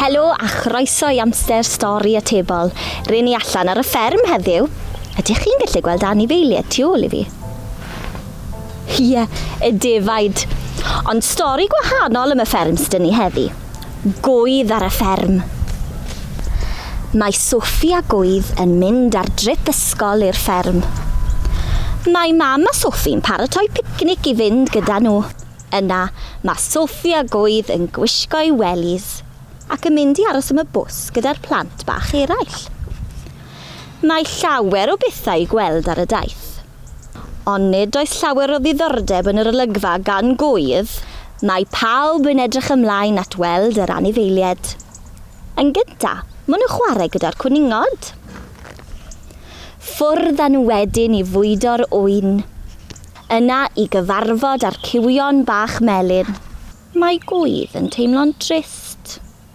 Helo a chroeso i Amser Stori Atebol. Ryn ni allan ar y fferm heddiw. Ydych chi'n gallu gweld anifeiliaid tu ôl i fi? Ie, y defaid. Ond stori gwahanol am y fferm sydd ni heddi. Gwydd ar y fferm. Mae Sophie a Gwydd yn mynd ar drip ysgol i'r fferm. Mae Mam a Sophie'n paratoi picnic i fynd gyda nhw. Yna, mae Sophie a Gwydd yn gwisgo'u wellies ac yn mynd i aros am y bws gyda'r plant bach eraill. Mae llawer o bethau i gweld ar y daith. Ond nid oes llawer o ddiddordeb yn yr olygfa gan Gŵydd. Mae pawb yn edrych ymlaen at weld yr anifeilied. Yn gynta, maen nhw'n chwarae gyda'r cwningod. Ffwrdd â nhw wedyn i fwydo'r ŵyn. Yna i gyfarfod â'r cywion bach melyn. Mae Gŵydd yn teimlo'n drist.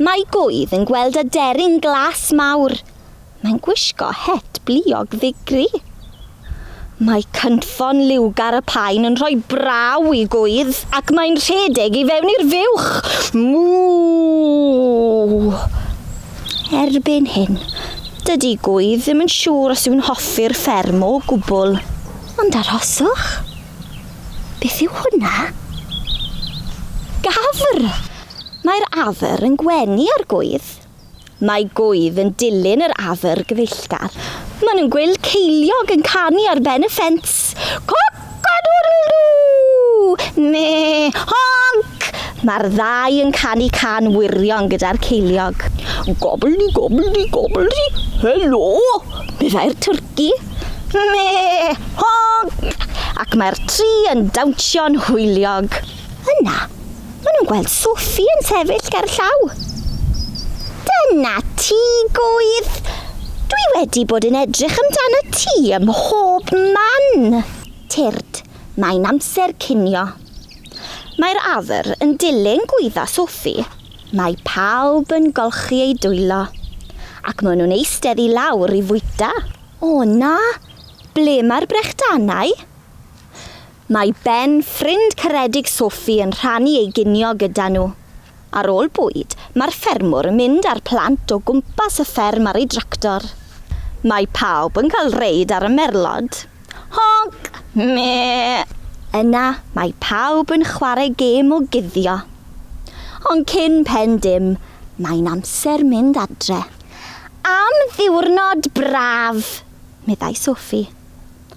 Mae Gwydd yn gweld aderyn glas mawr. Mae'n gwisgo het bliog ddigri. Mae cynffon liwgar y paun yn rhoi braw i Gwydd. Ac mae'n rhedeg i fewn i'r fuwch. Mŵ! Erbyn hyn, dydy Gwydd ddim yn siŵr os yw'n hoffi'r fferm o gwbl. Ond arhoswch. Beth yw hwnna? Gafr! Mae'r afer yn gwenu ar gwydd. Mae gwydd yn dilyn yr afer gyfeillgar. Maen nhw'n gweld ceiliog yn canu ar ben y ffens. Coc-a-doodle-doo! Me! Honc! Mae'r ddau yn canu can wirion gyda'r ceiliog. Gobbledy-gobbledy-gobbledy! Helo! meddai'r twrci. Me! Honc! Ac mae'r tri yn dawnsio'n hwyliog. Yna, maen nhw'n gweld Sophie yn sefyll ger llaw. Dyna ti, gwydd! Dwi wedi bod yn edrych amdano ti ym mhob man! Tyrd, mae'n amser cinio. Mae'r awyr yn dilyn gwydda Sophie. Mae pawb yn golchi eu dwylo, ac maen nhw'n eistedd i lawr i fwyta. O na, ble mae'r brechdanau? Mae Ben, ffrind caredig Sophie yn rhannu ei ginio gyda nhw. Ar ôl bwyd, mae'r ffermwr yn mynd â'r plant o gwmpas y fferm ar ei dractor. Mae pawb yn cael reid ar y merlod. Honc! Mee! Yna, mae pawb yn chwarae gêm o guddio. Ond cyn pen dim, mae'n amser mynd adre. Am ddiwrnod braf! meddai Sophie.